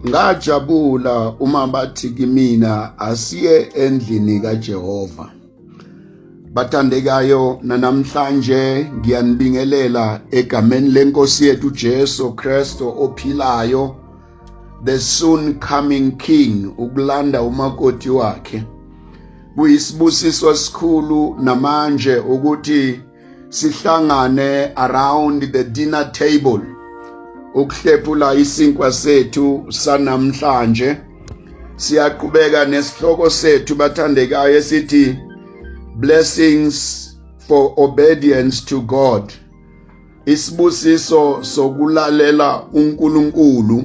ngajabula uma bathi kimina asiye endlini kaJehova bathandekayo nanamhlanje ngiyanibingelela egameni lenkosi yethu Jesu Kristo ophilayo the soon coming king ukulanda umakoti wakhe kuyisibusiso esikhulu namanje ukuthi sihlangane around the dinner table ukuhlephula isinkwa sethu sanamhlanje siyaqhubeka nesihloko sethu bathandekayo esithi blessings for obedience to God isibusiso sokulalela uNkulunkulu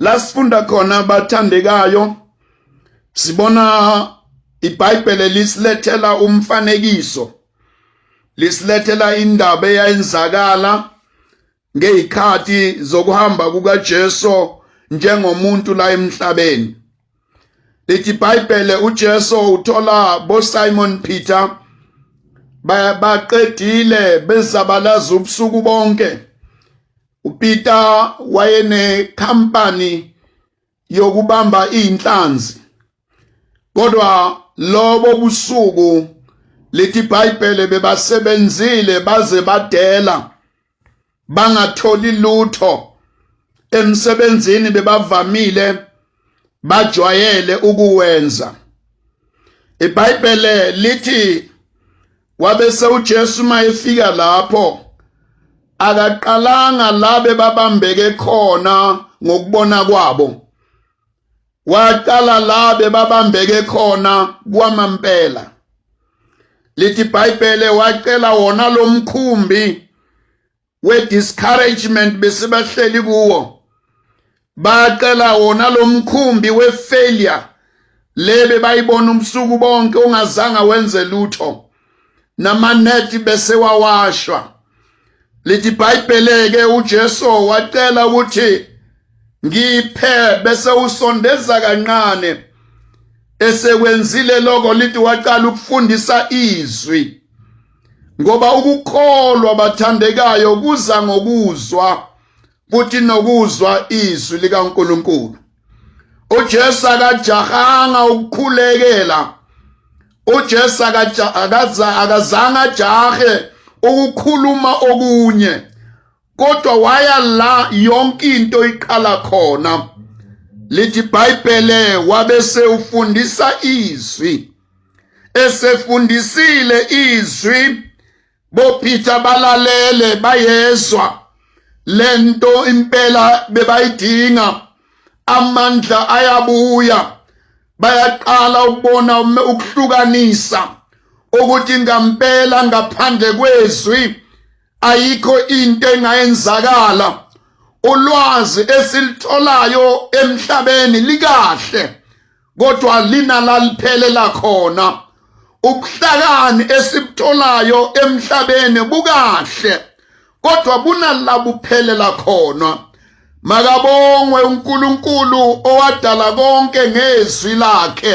lasifunda khona abathandekayo sibona iBhayibhele lisilethela umfanekiso lisilethela indaba eyayenzakala ngezikhathi zokuhamba kukaJesu njengomuntu la emhlabeni lithi iBhayibhele uJesu uthola boSimon Peter baqedile bezabalaza ubusuku bonke uPeter wayenekhampani yokubamba izinhlanzi kodwa lobo busuku lithi iBhayibhele bebasebenzile baze badela bangatholi lutho emsebenzini bebavamile bajwayele ukuwenza iBhayibhele lithi wabe sewuJesu mayefika lapho akaqalanga labe babambeke khona ngokubona kwabo waqala labe babambeke khona kwamampela lithi iBhayibhele wacela wona lomkhumbi we-discouragement besibahleli kuwo bacela wona lo mkhumbi we-failure lebe bayibona ubusuku bonke ungazanga wenze lutho namanethi bese wawashwa lithi ibhayibheleke uJesu wacela ukuthi ngiphe bese usondeza kancane esekwenzile lokho lithi waqala ukufundisa izwi ngoba ukukholwa bathandekayo kuza ngokuzwa futhi nokuzwa izwi likaNkulunkulu uJesu akajahanga ukukhulekela uJesu akazange ajahe ukukhuluma okunye kodwa waya la yonke into iqala khona lithi ibhayibhele wabese ufundisa izwi esefundisile izwi bophitha balalele bayezwa lento impela bebayidinga amandla ayabuya bayaqala ukubona ukuhlukanisa ukuthi ngampela ngaphandle kwezwi ayikho into engayenzakala ulwazi esilitholayo emhlabeni likahle kodwa linalaliphelela khona ubuhlakani esibutholayo emhlabeni bukahle kodwa bunalabuphelela khona makabongwe uNkulunkulu owadala konke ngezwi lakhe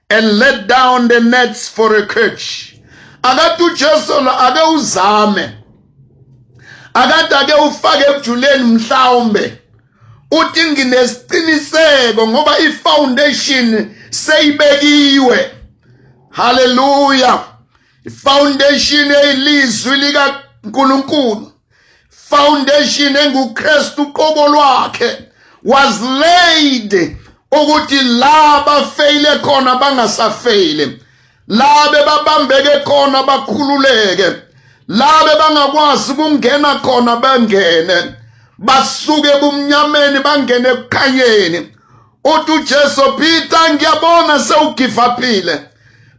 and let down the nets for a catch akade uJesu ake uzame akade ake ufake ebujuleni mhlawumbe uthi nginesiqiniseko ngoba ifoundation seyibekiwe haleluya ifoundation eyilizwi likaNkulunkulu foundation enguKristu uqobo lwakhe was laid ukuthi la bafeyile khona bangasafeyile la bebabambeke khona bakhululeke la bebangakwazi ukungena khona bangene basuke ebumnyameni bangene ekukhanyeni uthi uJesu Peter ngiyabona sewugivaphile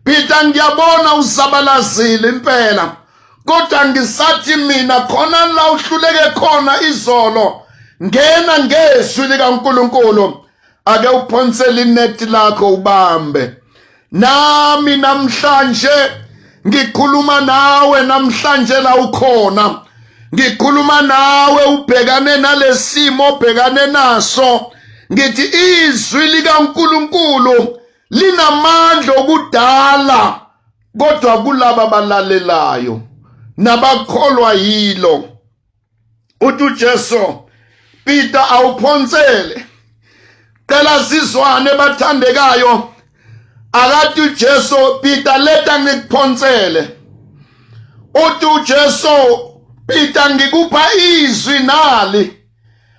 Peter ngiyabona uzabalazile impela kodwa ngisathi mina khona la uhluleke khona izolo ngena ngezwi likaNkuluNkulu ake uphonsele inet lakho ubambe nami namhlanje ngikhuluma nawe namhlanje la ukhona ngikhuluma nawe ubhekane nalesimo obhekane naso ngithi izwi likaNkuluNkulu linamandla okudala kodwa kulaba balalelayo nabakholwa yilo uthi uJesu Peter awuphonsele cela sizwane bathandekayo akathi uJesu Peter leta ngikuphonsele uthi uJesu Peter ngikupha izwi nali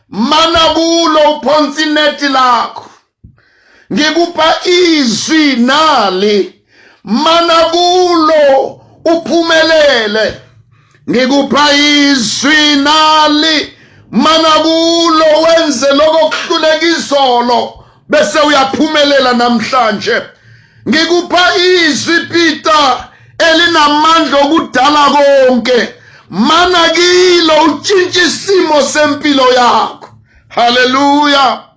mana kulo uphonsa inethi lakho ngikupha izwi nali mana kulo uphumelele ngikupha izwi nali mana kulo wenze lokho kuhluleka izolo bese uyaphumelela namhlanje ngikupha izwi Peter elinamandla okudala konke mana kilo utshintshe isimo sempilo yakho haleluya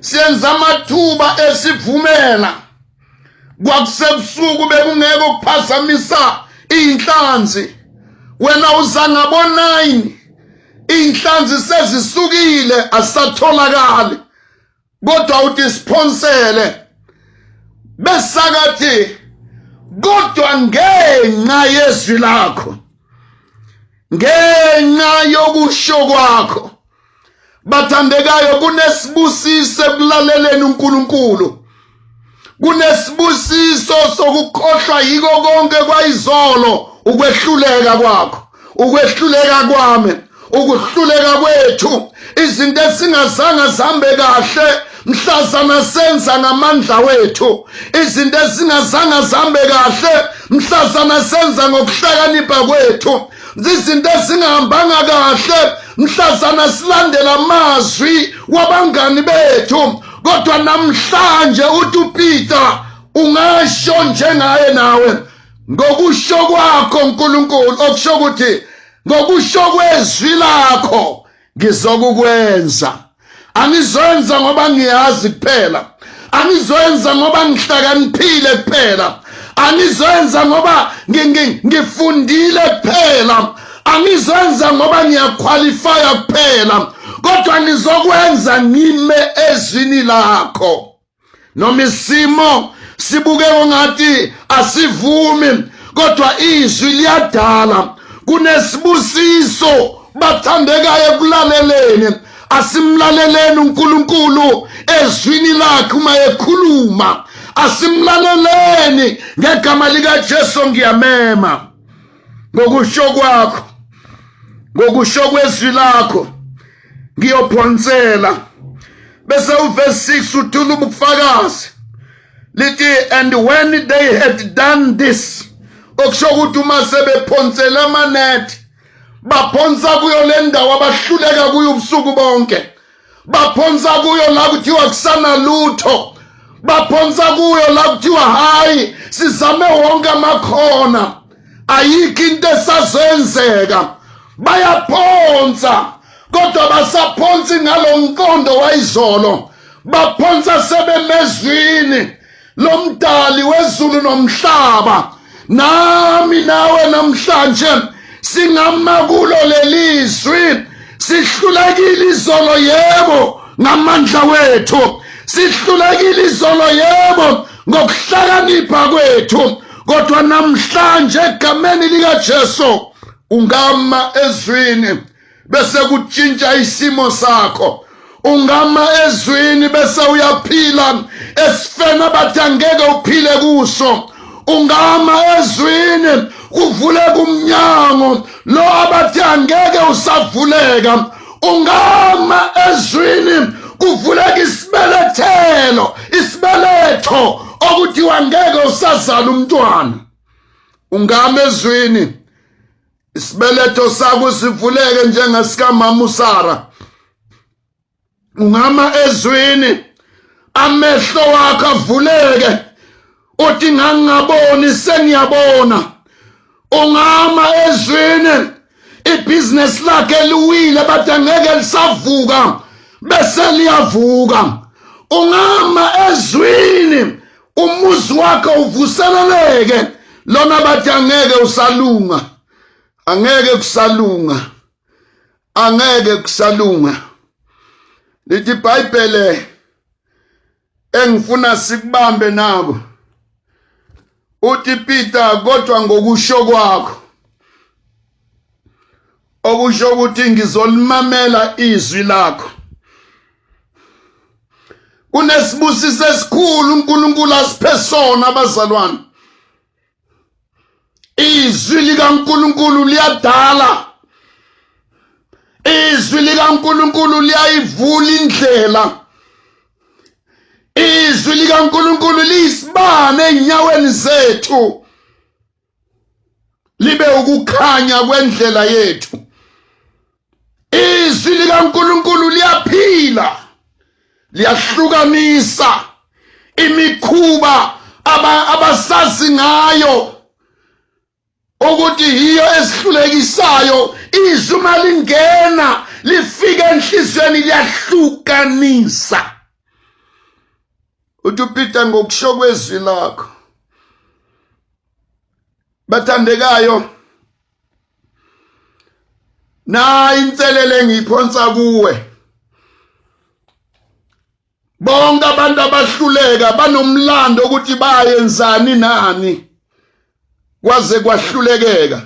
senza amathuba esivumela kwakusebusuku bekungeke ukuphazamisa iy'nhlanzi wena uza ngabo-nine iy'nhlanzi sezisukile asisatholakali kodwa uthi siphonsele besakathi kodwa ngenxa yezwi lakho ngenxa yokusho kwakho bathandekayo kunesibusiso ekulaleleni uNkulunkulu kunesibusiso sokukhohlwa yiko konke kwayizolo ukwehluleka kwakho ukwehluleka kwami ukuhluleka kwethu izinto esingazange zihambe kahle mhlazana senza ngamandla wethu izinto esingazange zihambe kahle mhlazana senza ngokuhlakanipha kwethu zizinto ezingahambanga kahle mhlazana silandela amazwi wabangani bethu kodwa namhlanje uthi upeter ungasho njengaye nawe ngokusho kwakho nkulunkulu okusho ukuthi ngokusho kwezwi lakho ngizokukwenza angizoyenza ngoba ngiyazi kuphela angizoyenza ngoba ngihlakaniphile kuphela angizoyenza ngoba ngifundile kuphela angizoyenza ngoba ngiyakhwalifaya kuphela kodwa ngizokwenza ngime ezwini lakho noma isimo sibuke ngathi asivumi kodwa izwi liyadala kunesibusiso bathandekayo ekulaleleni asimlaleleni uNkulunkulu ezwini lakhe uma ekhuluma asimlaleleni ngegama likaJesu ngiyamema ngokusho kwakho ngokusho kwezwi lakho ngiyophonsela bese uverse 6 uthula ubufakazi lithi and when they had done this okusho ukuthi uma sebephonsela amanethi baphonsa kuyo le ndawo abahluleka kuyo ubusuku bonke baphonsa kuyo la kuthiwa kusana lutho baphonsa kuyo la kuthiwa hhayi sizame wonke amakhona ayikho into esazenzeka bayaphonsa kodwa basaphonsi ngalo mqondo wayizolo baphonsa sebemezwini lomdali wezulu nomhlaba nami nawe namhlanje singama kulo lelizwi sihlulekile izolo yebo ngamandla wethu sihlulekile izolo yebo ngokuhlakanipha kwethu kodwa namhlanje egameni likaJesu ungama ezwini bese kutshintsha isimo sakho ungama ezwini bese uyaphila esifeni abathi angeke uphile kuso ungama ezwini kuvuleka umnyango lo abathi angeke usavuleka ungama ezwini kuvuleka isibelethelo isibeletho okuthiwa ngeke usazala umntwana ungama ezwini isibeletho sakho sivuleke njengesikaMama uSara ungama ezwini amehlo wakho avuleke uthi ngangingaboni sengiyabona ungama ezwini ibhizinesi lakhe liwile bathi angeke lisavuka bese liyavuka ungama ezwini umuzi wakhe uvuseleleke lona bathi angeke usalunga angeke kusalunga angeke kusalunga lithi ibhayibhele engifuna sikubambe nako uthi Peter kodwa ngokusho kwakho okusho ukuthi ngizolimamela izwi lakho kunesibusiso esikhulu uNkulunkulu asiphe sona abazalwane izwi likaNkuluNkulu liyadala izwi likaNkuluNkulu liyayivula indlela izwi likaNkuluNkulu liyisibane enyaweni zethu libe ukukhanya kwendlela yethu izwi likaNkulunkulu liyaphila liyahlukanisa imikhuba abasazi ngayo ukuthi yiyo esihlulekisayo izwi uma lingena lifike enhliziyweni liyahlukanisa uthi upeter ngokusho kwezwi lakho bathandekayo nayi inselele engiyiphonsa kuwe bonke abantu abahluleka banomlando ukuthi bayenzani nani kwaze kwahlulekeka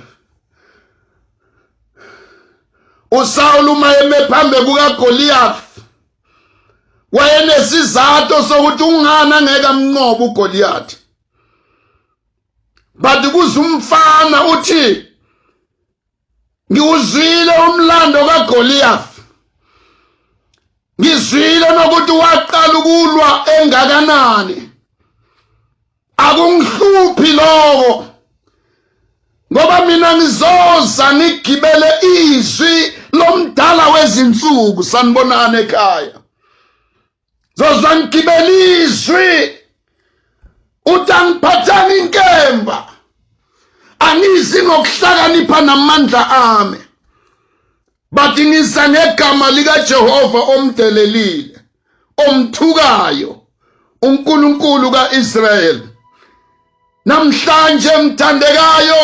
uSawulu uma eme phambi kukaGoliath wayenesizathu sokuthi ungani angeke amnqobe uGoliath but kuze umfana uthi ngiwuzwile umlando kaGoliath ngizwile nokuthi waqala ukulwa engakanani akungihluphi lokho ngoba mina ngizoza ngigibele izwi lomdala wezinsuku sanibonana ekhaya zozangigibela izwi uthi angiphathanga inkemba angizi ngokuhlakanipha namandla ami bathi ngiza ngegama likajehova omdelelile omthukayo unkulunkulu ka-israyeli namhlanje mthandekayo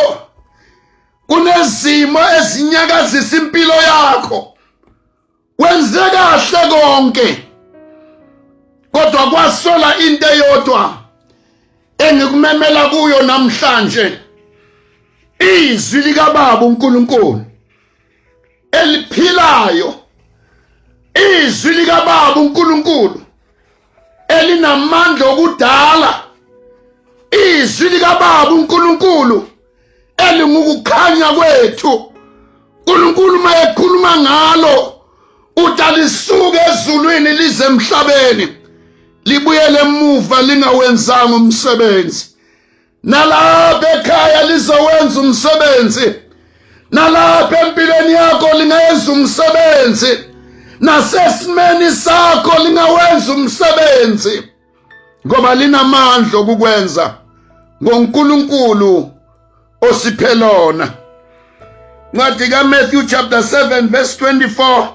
kunezimo ezinyakazisa impilo yakho wenze kahle konke kodwa kwasola into eyodwa engikumemela kuyo namhlanje izwi likababa uNkulunkulu eliphilayo izwi likababa uNkulunkulu elinamandla okudala izwi likababa uNkulunkulu elingukukhanya kwethu uNkulunkulu uma ekhuluma ngalo udalisuke ezulwini lize emhlabeni libuyele emuva lingawenzanga umsebenzi nalapha ekhaya lizowenza umsebenzi nalapha empilweni yakho lingayenza umsebenzi nasesimeni sakho lingawenza umsebenzi ngoba linamandla okukwenza ngoNkulunkulu osiphelona ncwadi kaMatthew chapter 7 verse 24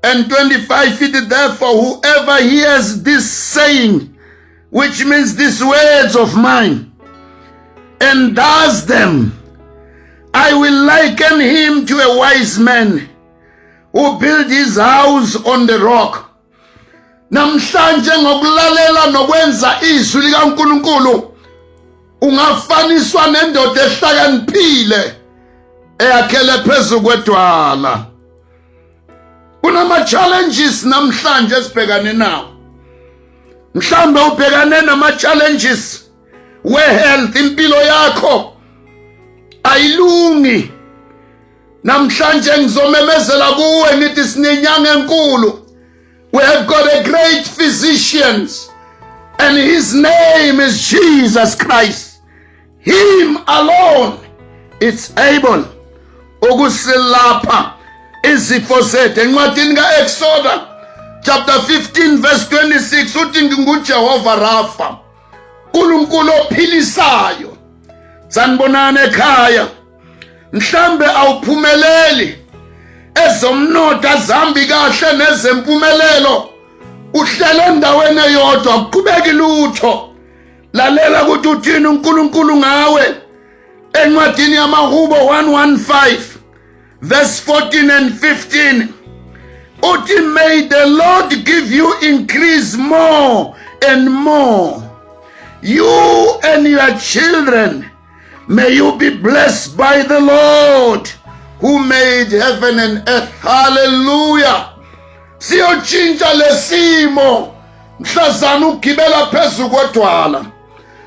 and 25 feet therefore whoever hears this saying which means these words of mine and does them I will liken him to a wise man who built his house on the rock namhlanje ngokulalela nokwenza izwi likaNkuluNkulu ungafaniswa nendoda ehlakaniphile eyakhele phezu kwedwala kunama challenges namhlanje esibhekane nawo mhlawumbe ubhekane nama challenges we health impilo yakho ayilungi namhlanje ngizomemezela kuwe ngithi sinenyanga enkulu we have got a great physicians and his name is Jesus Christ him alone it's able ukusilapha izifo zethu encwadini ka-eksoda chapter 15 verse 26 uthi ngingujehova rafa nkulunkulu ophilisayo sanibonani ekhaya mhlambe awuphumeleli ezomnotho azambi kahle nezempumelelo uhlele endaweni eyodwa kuqhubeki lutho lalela ukuthi uthini uNkulunkulu ngawe encwadini yamahubo 115 verse 14 and 15 uthi may the lord give you increase more and more you and your children May you be blessed by the Lord who made heaven and earth. Hallelujah. Siyotshintsha lesimo mhlazana ugibela phezulu kodwala.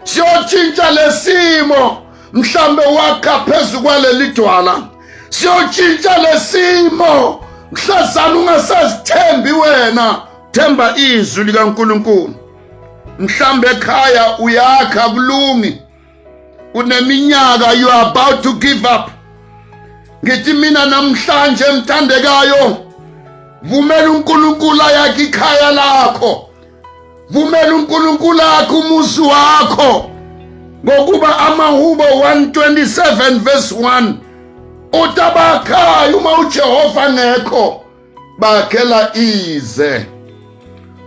Siyotshintsha lesimo mhlambe wakha phezulu kwaleli dwala. Siyotshintsha lesimo mhlazana ungasazithembi wena themba izwi likaNkulunkulu mhlambe ekhaya uyakha kulungi uneminyaka you are about to give up ngithi mina namhlanje mthandekayo vumela uNkulunkulu ayakhe ikhaya lakho vumela uNkulunkulu akhe umuzi wakho ngokuba amahubo 127 verse 1 utabakhayo uma uJehova ngekho bakhela ize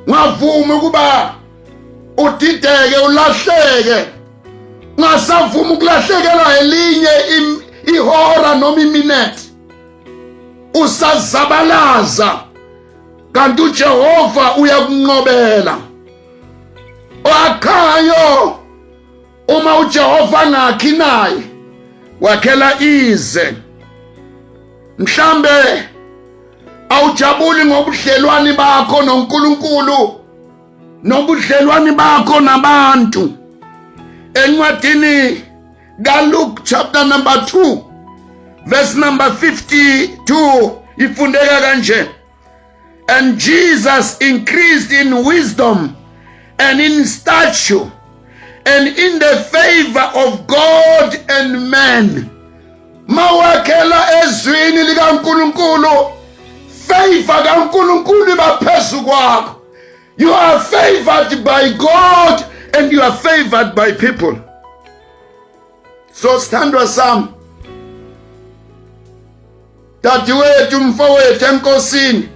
ngavuma ukuba udideke ulahleke ngasavuma ukulahlekela elinye ihora noma iminute usazabalaza kanti uJehova uyakunqobela wakhayo uma uJehova angakhi naye wakhela ize mhlambe awujabuli ngobudlelwani bakho noNkulunkulu nobudlelwani bakho nabantu encwadini kaLuke chapter number 2 verse number 52 ifundeka kanje And Jesus increased in wisdom and in stature and in the favor of God and man. Mawakhela ezwini likaNkulunkulu favor kaNkulunkulu iba phezu kwakho. You are favored by God and you are favored by people. so sithandwa sami dadewethu mfowethu enkosini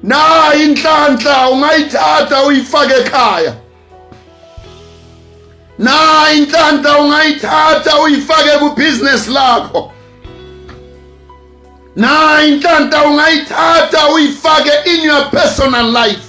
na inhlanhla ungayithatha uyifake ekhaya na inhlanhla ungayithatha uyifake ku business lakho na inhlanhla ungayithatha uyifake in your personal life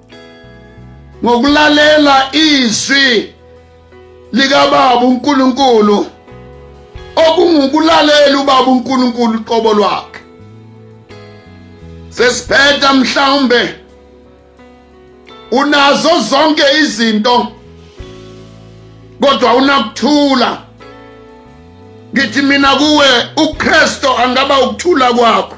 ngokulalela izwi likababa uNkulunkulu okungukulalela ubaba uNkulunkulu uqobo lwakhe sesiphetha mhlawumbe unazo zonke izinto kodwa unakuthula ngithi mina kuwe uKristo angaba ukuthula kwakho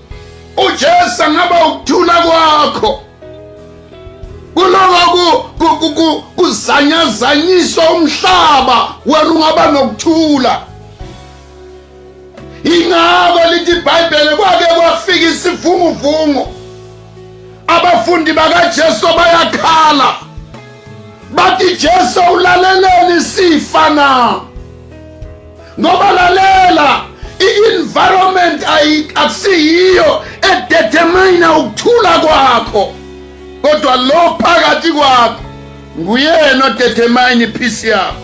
uJesu angaba ukuthula kwakho kuloko kuzanyazanyiswa umhlaba wena ungaba nokuthula ingako lithi ibhayibhele kwake kwafika isivunguvungu abafundi bakajesu bayakhala bathi jesu ulaleleni sifa na ngoba lalela i-environment akusiyiyo edetermina ukuthula kwakho kodwa lo phakathi kwakho nguyena odetermine ipeace yakho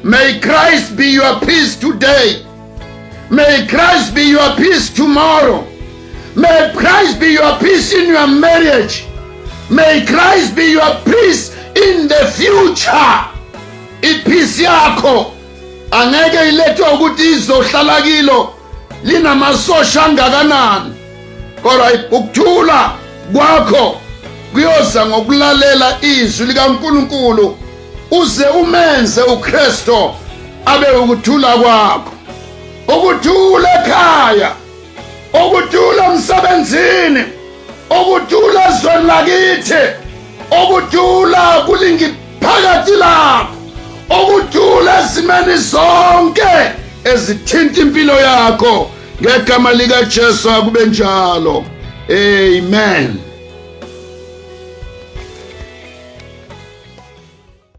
may christ be your peace today may christ be your peace tomorrow may christ be your peace in your marriage may christ be your peace in the future Iphisi yakho angeke ilethwe ukuthi izohlala kilo linamasosha angakanani kodwa ukuthula kwakho kuyoza ngokulalela izwi likaNkuluNkulu uze umenze uKristo abe ukuthula kwakho ukuthula ekhaya ukuthula emsebenzini ukuthula ezweni lakithi ukuthula kulingi phakathi lapho ukuthula ezimeni zonke ezithinta impilo yakho ngegama likaJesu akube njalo amen